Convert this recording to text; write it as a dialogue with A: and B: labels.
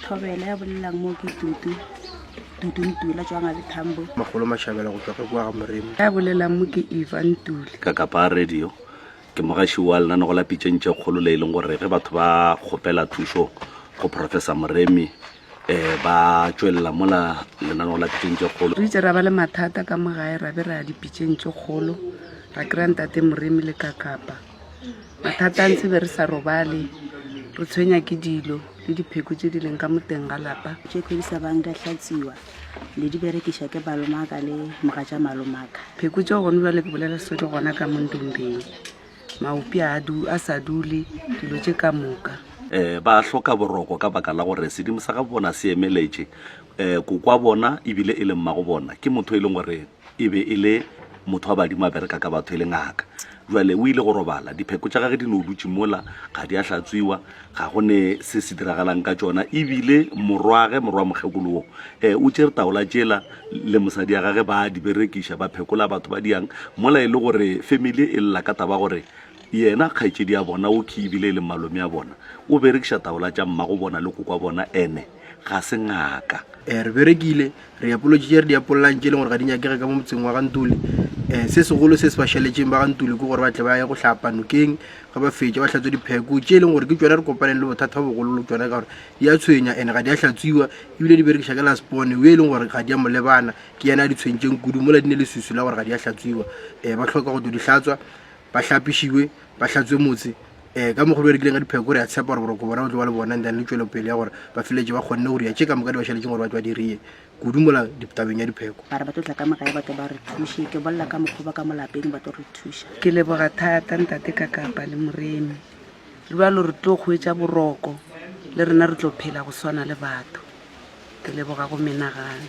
A: Thobela ya bolelang mo ke Tutu. Tutu Ntula tswa ngabe Thambo. Magolo Mashabela go tswa
B: ge kwa ga Moremi. Ya bolelang mo ke
C: Eva Ntule. Ka Kapa Radio
D: ke mogaši wa lenano go lapitšeng tše kgolo le e leng gore ge batho ba kgopela thušo go Professor Moremi eh ba tšwelela mola lenano go lapitšeng tše kgolo. Re itse ra ba le mathata
C: ka mo gae ra be ra ya dipitšeng tše kgolo ra kry-a Ntate Moremi le ka Kapa. mathata a ntse be re sa robale re tshwenya ke dilo le dipheko tse di leng ka moteng ga lapa tše kgwedi sa bang di a
A: hlatsiwa le di berekiša ke balomaka le moga tša malomaka pheko tšeo gone jale
C: ke bolela so di gona ka mondombeng maopi a sa dule dilo tše ka moka um ba hloka
D: boroko ka baka la gore sedimo sa ga bona se emeletše um kokwa bona ebile e le mmago bona ke motho e leng gore e be e le motho wa badimo a bereka ka batho e le ngaka jale o ile go robala dipheko tša gage di ne o dutse mola ga di a hlatswiwa ga go ne se se diragalang ka tsona ebile morwage morwa mokgekolo wo um o tšere taola tšela le mosadi ya gage ba di berekiša ba phekola batho ba diyang mola e le gore family e lla ka taba gore yena kgaetšedi ya bona o khe ebile e le malome ya bona o berekiša taola tša mmago bona le koko wa bona ene ga se ngaka um re berekile
B: re apolotše tše re di apollang tše e leng gore ga di nyakege ka mo motseng wa gantuli um eh, se segolo se se ba šaletšeng ba gantuli ke gore ba tle ba ye go hlapa nokeng ga ba fetša ba hlatswe dipheko tše e leng gore ke tsone re kopaneng le bothata ba bogololo tsone ka gore di a tshwenya and ga di a hlatswiwa ebile di berekiša ke laspone o e leng gore ga di a molebana ke yena a di tshwentseng kudu mola di ne le susu la gore ga di a hlatswiwa um ba tlhoka go to di hlatswa ba hlapišiwe ba hlatswe motse um ka mokgwa berekileng ka dipheko re a tshepa gore boroko bona o tlo ba le bona and then le tšwelopele ya gore ba feletse ba kgonne go ria tše ka moka di ba šaletseng gore ba tlo ba dirie kudu mola tabeng ya dipheko ba re ba tlo tla ka moka ya
A: batho ba re thushe ke bolela ka mokgwa ba ka molapeng ba tlo re thuša ke leboga thata
C: ntate ka kapa le moremi le ba lo re tlo kgwetsa boroko le rena re tlo phela go swana le batho ke leboga go menagane